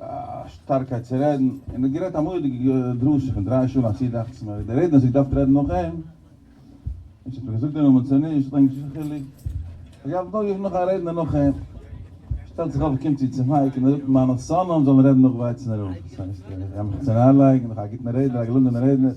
א שטארקייט צו רעדן, און ער האט גערעדט א מורא'דיגע דרשה פון דריי שעה און א צי דאכצעס מיר, די רעדנער האט זיך געדארפט רעדן נאך אים, און שוין האט ער געזאגט די נאמען צו נישט, האט ענק נישט קיין חילוק, עס געהאלטן נאך געווען נאך א רעדנער נאך אים, שטעלט זיך אויף און קומט צו צו מייק און ער זאגט מיינע שונאים זאלן רעדן נאך ווייצען רב, דאס הייסט ער גייט מיך צונארלייגן, נאך א גוטן רעדנער, א געלונגענעם רעדנער.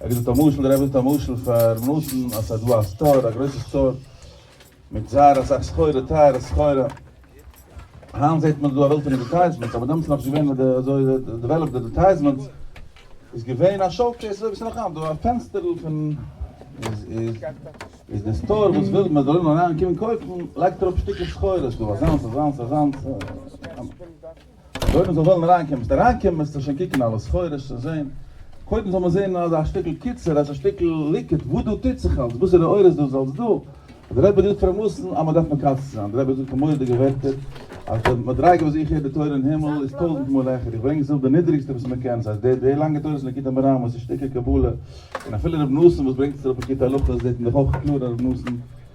ער האט געזאגט א משל, דער רבי זאגט א משל פאר נתן, אז ס'איז דא א סטאר, א גרויסע סטאר, מיט זייער אסאך סחורה, טייערע סחורה, היינט זעט מען דא א וועלט פון עדערטייזמענטס, אבער דעמאלטס איז נאך נישט געווען אזוי אזוי דעוועלאפד עדערטייזמענטס, איז געווען א שאו קעיס אזוי ווי ס'איז נאך היינט דא, א פענסטערל פון, איז איז איז די סטאר וואס וויל מען זאל אריין קומען קויפן, לייגט אראפ שטיקער סחורה, ס'איז דא אזאנס אזאנס אזאנס, אויב מען זאל וועלן אריינקומען, וועסטו אריינקומען, וועסטו שוין קוקן אלע סחורה שוין זען, קודם זאל מען זען אז א שטיקל קיצור, אז א שטיקל ליקוט, וואס דא טוט זיך אלס, וואסערע אור איז דאס אלס דא, דער רבי רופט פאר מאסן, אז מען דארף מקצר זיין, דער רבי זאגט פאר מורא'דיגע ווערטער, אז די מדריגה וואס איך הער די תורה אין הימל איז טויזנט מאל העכער, איך ברענג זיל די נידריגסטע וואס מען קען, ס'הייסט די די לאנגע תורות ליקוטי מוהרן וואס איז שטיקל קבלה, און אפילו רבי נתן וואס ברענגט עס אראפ אין קטע הלכות זעט מען דאך אויך קלאר אז רבי נתן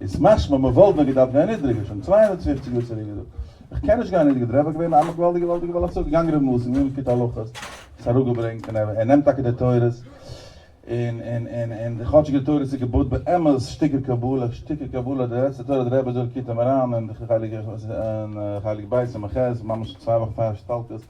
איז משמע מ'וואלט ווען געדארפט גיין נידריגער שוין צוויי הונדערט פֿופֿציק יאר צוריק געזאגט איך קען נישט גיין נידריגער דער רבי איז געווען א געוואלדיגע געוואלדיגע בעל השגה געגאנגען רבי מאסי מ מ קיט הלכות עס אראפ געברענגט און ער נעמט טאקע די תורות און און און און כאטשיג די תורות איז געבויט באמת שטיקער קבלה שטיקער קבלה די לעצטע תורה דער רבי זאגט קיט אים אריין און חלק בית סמ ח ממש צוויי וואכן פאר השתלטות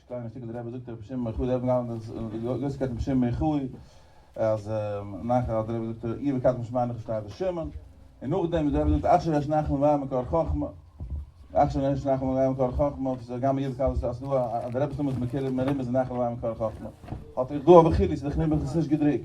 שטיין א שטיקל די רבי זאגט רבי שמעון בן יוחאי די רבי האט געהאלטן אז די גרויסע קייט רבי שמעון בן יוחאי אז נחל אז די רבי זאגט עיר וקדש משמר נחל שטייט די שמעון און נאכדעם ווי די רבי זאגט אכשר יש נחל מבאר מקור חכמה אכשר יש נחל מבאר מקור חכמה וואס איז גמ' יזכ אז דא אז די רבי שלמה איז מקור מרימס די נחל מבאר מקור חכמה האט ער דא אבער חידוש אז די חנובה האט עס נישט געדרוקט.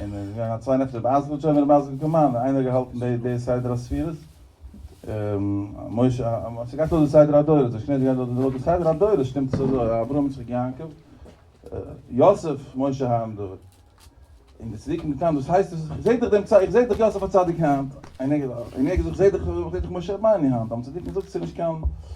און עס איז געווען א צוויי נפטר באז גוט שוין באז גוט קאמאן און איינער געהאלטן די די סדר הספירות משה האט געהאט אויס די סדר הדורות די שני געדאנק און די סדר הדורות שטימט עס אזוי אברהם יצחק יעקב יוסף משה האנדער אין די צדיקים געטאן דאס הייסט עס איך זעה דאך דעם איך זעה דאך יוסף הצדיק האנט און איך זעה דאך איך זעה דאך משה רבנו האנט האבן צדיקים געזאגט עס איז נישט קיין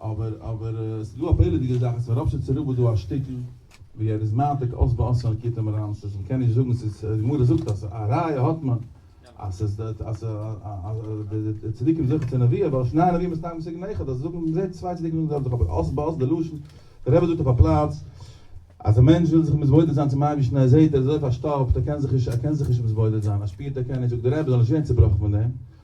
אבער אבער עס איז דא א פלא'דיגע זאך אז פאר רוב שטיצער רב איז דא א שטיקל ווי ער איז מעתיק אויס באסרה'ן כיתה מרמסס אז מען קען נישט זאגן ס'איז די גמרא זאגט אז א ראיה האט מען אז ס'איז אז די צדיקים זוכה צו נביאה ווייל שני נביאים מסתיים בסיגנא אחד אז זאגן מען זעהט צוויי צדיקים זאגן די זעלבע זאך אבער אויס באסרה'ן די לשון דער רבי זאגט אויף א פלאץ אז א מענטש וויל זיך מתבודד זיין צום אייבערשטן ער זעהט ער איז אזוי פארשטאפט ער קען זיך נישט ער קען זיך נישט מתבודד זיין ער שפירט ער קען נישט זאגט דער רבי זיי זאלן נישט ווערן צעבראכן פון דעם.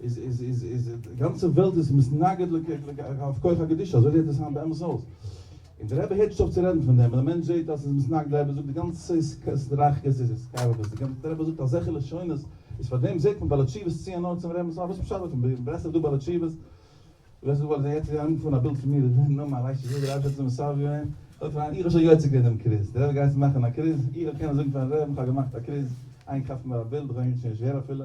איז איז איז איז די גאנצע וועלט איז מתנגד לכף כח הקדושה אזוי זעט עס היינט באמת אויס און די רבי הערט נישט אויף צו רעדן פון דעם און די מענטש זעט אז עס איז מתנגד די רבי זאגט די גאנצע סטראכקעס איז התקרבות די גאנצע די רבי זאגט אזעלכע לשונות איז פאר דעם זעט מען בעלי תשובות ציען אן צום רעבע'ס וואס פשט אז אין ברסלב דא בעלי תשובות וועסט דא זעהן יעצט אנגעפארן א בילד פון מיר איך בין נארמאל רייש יהודי רייש עצום מסב י און זאגט פאר איינעם איך האב שוין יוצא געווען דעם קריז די רבי גייט יעצט מאכן א קריז איך וועל קענען זאגן פארן רעבע'ן איך האב געמאכט א קריז איינער כאפט מיר א בילד איך האב ענגליש נישט שווער אפילו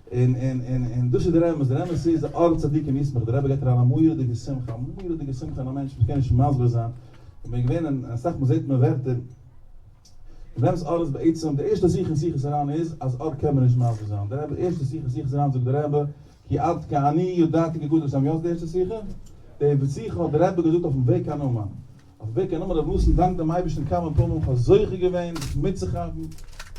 און און און און דאס איז דער אמת, דער אמת איז די אור צדיקים ישמח, דער רבי געט אריין א מורא'דיגע שמחה, א מורא'דיגע שמחה אין א מענטש, מ'קען נישט מסביר זיין, איך בין געווען אין אסאך מאל זעט מען ווערטער, דער אמת אור איז בעצם, די ערשטע שיחה אין שיחות הר ן איז אז אור קען מען נישט מסביר זיין, דער רבי ערשטע שיחה אין שיחות הר ן זאגט דער רבי כי עד כאני ידעתי גגודל השם, יא ס'די ערשטע שיחה? די שיחה האט דער רבי געזאגט אויפן וועג קיין אומאן, אויף וועג קיין אומאן רב ניסן דאנק דעם אייבערשטן כמה פעמים איך האב זוכה געווען זיך מיטצוכאפן,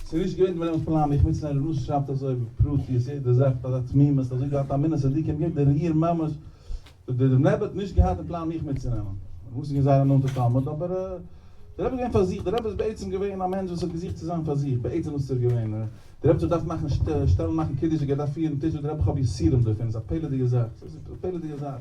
ס'איז נישט געווען דברים'ס פלאן מיך מיטצונעמען רב ניסן שרייבט אזוי בפרטיות יעדע זאך מיט אזא תמימות אזוי געהאט אמונת צדיקים יעדע ריר ממש די רבי האט נישט געהאט אין פלאן מיך מיטצונעמען רב ניסן איז געווען זייער א נאנטע תלמיד אבער די רבי איז געווען פאר זיך די רבי איז בעצם געווען א מענטש וואס האט געזוכט צו זיין פאר זיך בעצם וואס איז ער געווען די רבי האט זיך געדארפט מאכן שטעלן מאכן קידוש זיך געדארפט פירן טיש וואס די רבי איך האב יסורים דערפון איז א פלא'דיגע זאך איז א פלא'דיגע זאך.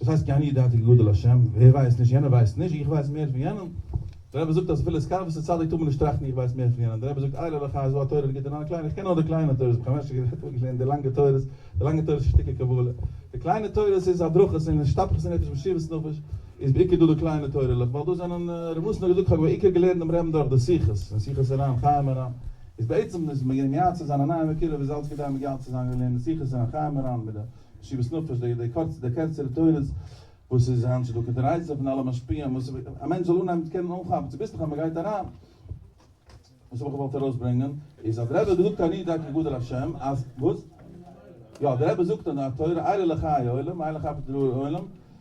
וואס הייסט כי אני ידעתי כי גדול השם? ווער ווייסט נישט? יענער ווייסט נישט? איך ווייס מער פון יענעם? דער רבי זאגט אז אפילו סקאוויסע צדיק טאר מען נישט טראכטן איך ווייס מער פון יענעם, דער רבי זאגט איילה לך אז וואו א תורה ליגט דערנאך די קליינע, איך קען נאר די קליינע תורות, איך האב כמעט נישט גערעדט און געלערנט די לאנגע תורות, די לאנגע תורות איז שטיקער קבלה, די קליינע תורות איז הדרכות און השתפכות הנפש און מסירות נפש, איז בעיקר דא די קליינע תורה'לעך, ווייל דאס זענען, רבי נתן האט געזאגט כ'האב בעיקר געלערנט דעם רמ ד אויך די שיחות, און שיחות הר ן, חיים הר ן, איז בעצם איז מייעץ צו זיין א נייעם מקורב איז אלץ כדי מגלה צו זיין און לערנען שיחות הר ן, חיים הר ן, מיט די. משיבת נפש, די די קורצע די קערצערע תורות וואס איז היינט צו טאג און די רייצן פון אלע משפיעים וואס א מענטש זאל אנהייבן צו קענען אנכאפן צוביסלעך אז מען גייט אריין. וואס האב איך געוואלט ארויס ברענגען איז אז די רבי האט געזאגט אני די כי גדול השם אז וואס? יא די רבי זאגט אז די תורה עילה לחיי עולם עילה חפץ לראות עולם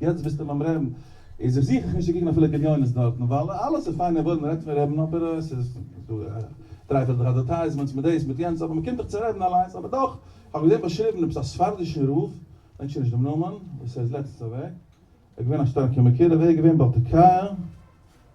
יעצט ביסטו ביים רעבן איז איך זיך איך נישט צו קוקן אפילו גליונות דארטן ווייל אלעס איז פיינע ווארט מען רעדט פון רעבן אבער עס איז דא טרייפעלט זיך אדערטייזמענטס מיט דעיס מיט יענץ אבער מען קומט דאך צו רעבן אליינס אבער דאך איך האב געזען באשריבן עפעס א ספרדישן רב דענק שוין נישט דעם נאמען וואס ער איז לעצטענס אוועק ער איז געווען א שטארקע מקורב ער איז געווען בעל תקיה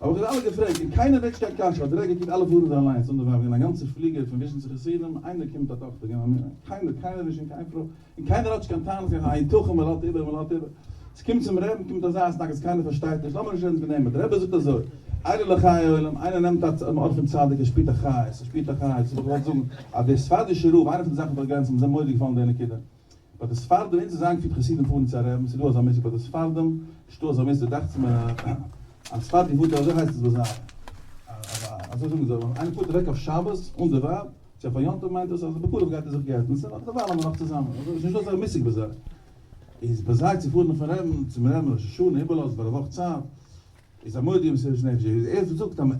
האב איך זיי אלע געפרעגט און קיינער מעג נישט קיין קשיא, האט דער רבי געקוקט אלע פארן זיי אליינס אן די ווייבער און א גאנצע פליגעל פון וויזשניצע חסידים, איינער קומט א טאכטער געבן א מינע, קיינער קיינער נישט און קיין פרוי און קיינער האט נישט קיין טענות קיין א היתכן מען לאט איבער מען לאט איבער, ס'קומט צום רעדן קומט אזא התנגדות קיינער פארשטייט נישט, לאמיר נישט רעדן פון דעם אבער דער רבי זאגט אזוי, עיני לחיי עולם, איינער נעמט א צ מ אויף פון צדיק ער שפירט א חיות ער שפירט א חיות, וואס האב איך געוואלט זאגן אז דער ספרדישער רב איינע פון די זאכן וואס איך האב געליינט ס'האט מיר זייער מורא'דיג געפאלן די נקודה. ביי די ספרדים אונז איז איינגעפירט חסידים פארן צו א רעבן ס'דא אזא מושג ביי די ספרדים נישטא אזא מושג דאכצעך מיר א ספרדי פארט אזוי הייסט עס ביי זיי אזוי זאגן זיי ווען איינער פארט אוועק אויף שבת אן די ווייב צו אויף א יום טוב מיינט עס אז בקרוב גייט ער זיך גט'ן סא נאך די וויילע מען נאך צוזאמען אזוי ס'נישטא אזא מושג ביי זיי איז ביי זיי צו פארן אויפן רעבן צום רעבן ראש השנה איבערלאזן פאר א וואך צייט. איז א מודיע מסערש נפש דער איז ערשט זאגט אז מען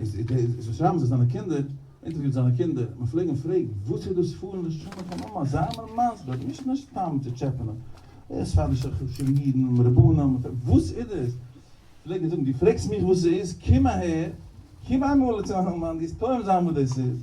זאל שרייבן זיי זיינע קינדער אינטערוויוט זיינע קינדער מען פלעג אים פרעגן וואס איז דאס פארן לשנה פאר מאמע זיי מיר מסביר נישט נישט סתם צו טשעפענען די ספרדישע חשובע אידן רבנים וואס איז דאס פלעג ער זאגן דו פרעגסט מיך וואס ס'איז קום אהער קום איינמאל צו מיין מאן די וועסט טועם זיין וואס דאס איז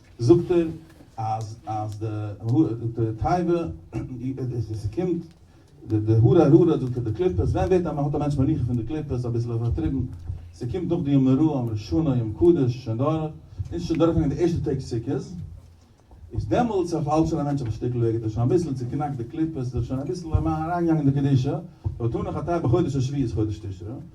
זאגט ער אז אז די די תיבה איז עס קומט די די הרה ר האט זאגט ער די קליפות ווען ווערט א מ'האט א מענטש מנוחה פון די קליפות אביסל איבערטריבן ס'קומט נאך די ימי רו ימי שנה יום קדוש שוין דורך אונז שוין דורכגעגאנגען די ערשטע טעג סוכות איז דעמאלטס אויף האלט שוין א מענטש אויף א שטיקל וועג האט ער שוין אביסל צוקנאקט די קליפות עס איז שוין אביסל אריינגעגאנגען די קדושה ווען מ'טאר נאך א תיבה חודש השביעי איז חודש תשרי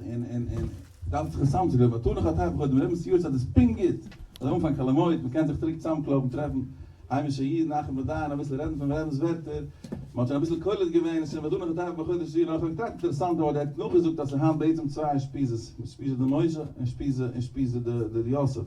און און און דארף זיך עס צאמצולייגן ווייל תנא חטא איך האב דעם רבינ'ס יועץ אז עס פונקט גוט מ'זאל אנפאנגען חול המועד מ'קען זיך צוריק צוזאמקלויבן טרעפן היימישע אידן אחים ודיינים אביסל רעדן פונעם רבינ'ס ווערטער מ'האט שוין אביסל קולט געווען עס איז שוין ודונו חטאיך בחודש זיון אויך האב איך געטראכט אינטערעסאנט אבער דער האט נאכגעזאגט אז ס'איז היינט בעצם צוויי אושפיזעס אושפיזא דמוישא און אושפיזא אושפיזא דר' יוסף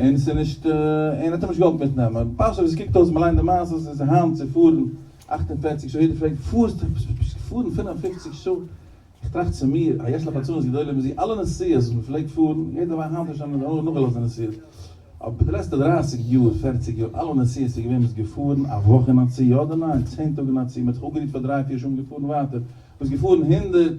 און ס'איז נישט און האט אים נישט געוואלט מיטנעמען, פשט ווי ס'קוקט אויס ווען מ'ליינט די מעשה אז ס'איז היינט צו פארן אַכט און פֿערציק שעה, יעדער פרעגט פארסט פארן פֿינף און פֿופֿציק שעה, איך טראכט צו מיר, א יש לך עצמות גדולה מזה, אלע נסיעות וואס מ'פלעגט פארן, יעדער ווייסט היינט נישט און נאכגעלאזט די נסיעות, אבער די לעצטע דרײַסיק יאר פֿערציק יאר אלע נסיעות איז געווען מ'איז געפארן א וואך אין א צי יא אדער ניין, צען טאג אין א צי, מ'האט זיך אפגערוהט פאר דריי פיר שעה און געפארן ווייטער, מ'איז געפארן הונדערט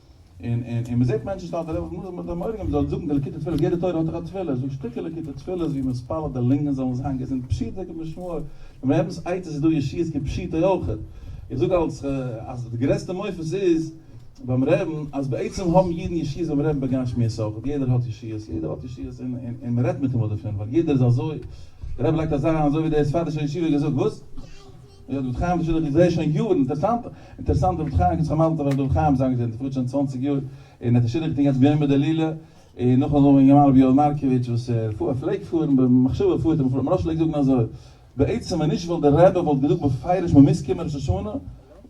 און און און מ'זעט מענטשן שטארק אזוי וואס מוז מען זיי מורא געבן מ'זאל זאגן די ליקוטי תפילות יעדע תורה האט דאך א תפילה זאג שטיקער ליקוטי תפילות ווי מ'מתפלל די לונגען זאלן זיין געזונט פשוטו כמשמעו און ביי יעדנס עצות איז דא ישועות כפשוטו אויך איך זאג אלס אז די גרעסטע מופת איז ביים רעבן אז בעצם האבן אידן ישועות ביים רעבן בגשמיות אויך יעדער האט ישועות יעדער האט ישועות און און און מ'רעדט מיט אים אויף דערפון ווייל יעדער איז אזוי דער רבי לייגט אזא אזוי ווי דער ספרדישער ישיבה געזאגט וואס? יא, דוד חיים איז שוין, איך זעה שוין יארן, אינטערעסאנט, אינטערעסאנט, דוד חיים, איך האב שוין אלץ דוד חיים זיין געזען, פארט שוין צוואנציג יאר, און ער האט עס שידוך געטון יעצט ביומא דלילה, און נאך אזוי וועגן רבי יואל מארקאוויטש וואס ער פארט, פלעגט פארן, במחשבה פארט ער, מפ ר פלעגט זאגן אזוי, בעצם ווען נישט וואלט דער רבי וואלט געזאגט בפירוש מען מוז קומען ראש השנה,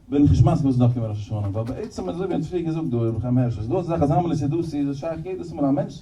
בין איך נישט מסכים מען זאל נאך קומען ראש השנה, ווייל בעצם אזוי ווי מ'האט פריער געזאגט דא, רבי חיים הערש, איז דא אזא זאך אז המלא סידותי, איז עס שייך יעדעס מאל א מענטש,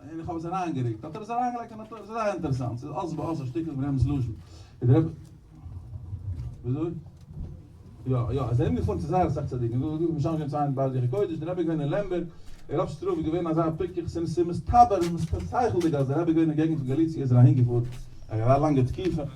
און איך האב עס אריינגערוקט, האט ער עס אריינגעלייגט אין א טויש, ס'איז זייער אינטערעסאנט, ס'איז אלץ באלס א שטיקל פון יענעמ'ס לשון. איז דער רבי. וויאזוי? יא, יא, עס איז ארום געפארן צו זייער אסאך צדיקים, דא איז משמש געווען צוויי אינדערהאלב יעריגע קודש, דער רבי איז געווען אין לעמבערג, און רב שטראף איז געווען אזא פיקח, ס'איז מסתבר, ס'איז מסתבר שכל'דיג אז דער רבי איז געווען אין געגנט פון גאליציע איז ער אהינגעפארן, א גאר לאנגע תקופה.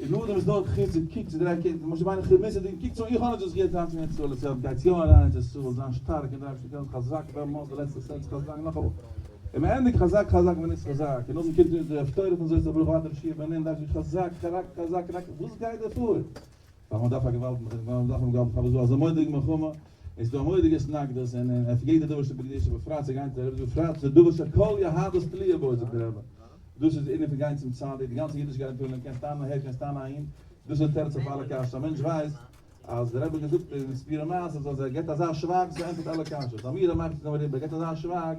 און נאכדעם איז דארט חיזוק, קוק צו דריי קעגנס, משה ביינער כרמזית'דיג און קוק צו איך האב נישט דאס געהערט היינט אין ארץ ישראל אצל גייטס יא אריין ארץ ישראל זיין שטארק און דריי צו קעגנס חזק ווער מאכט די לעצטע סענס חזק נאך אמאל און מען ענדיגט חזק חזק ווען איז חזק און נאכדעם קומט אונז די הפטורה פון זאת הברוך ואתה תשיב אמן דארשי חזק חרק חזק רק וואס גייט דא פאר? ווייל מען דארף א געוואלד, ווייל מען דארף א געוואלד, פארוואס דא אזא מורא'דיגע מלחמה, עס איז דא א מורא'דיגע התנגדות, און אויף יעדע דבר שבקדושה, בפרט צו גיין צו רבי'ס, בפרט צו דבר שכל יהדות תלויה בו זאגט דער רבי, דאס איז די ענין פון גיין צום צדיק, די גאנצע אידישקייט פון מען קען סתם אהער קען סתם אהין, דאס איז די תירוץ אויף אלע קשיות, א מענטש ווייסט אז דער רבי האט געזאגט אין ספירה מס אז אז ער געבט אזא שווייג דאס ענטפערט אלע קשיות, האמיר ער מאכט עס נאר אריבער, ער געבט אזא שווייג.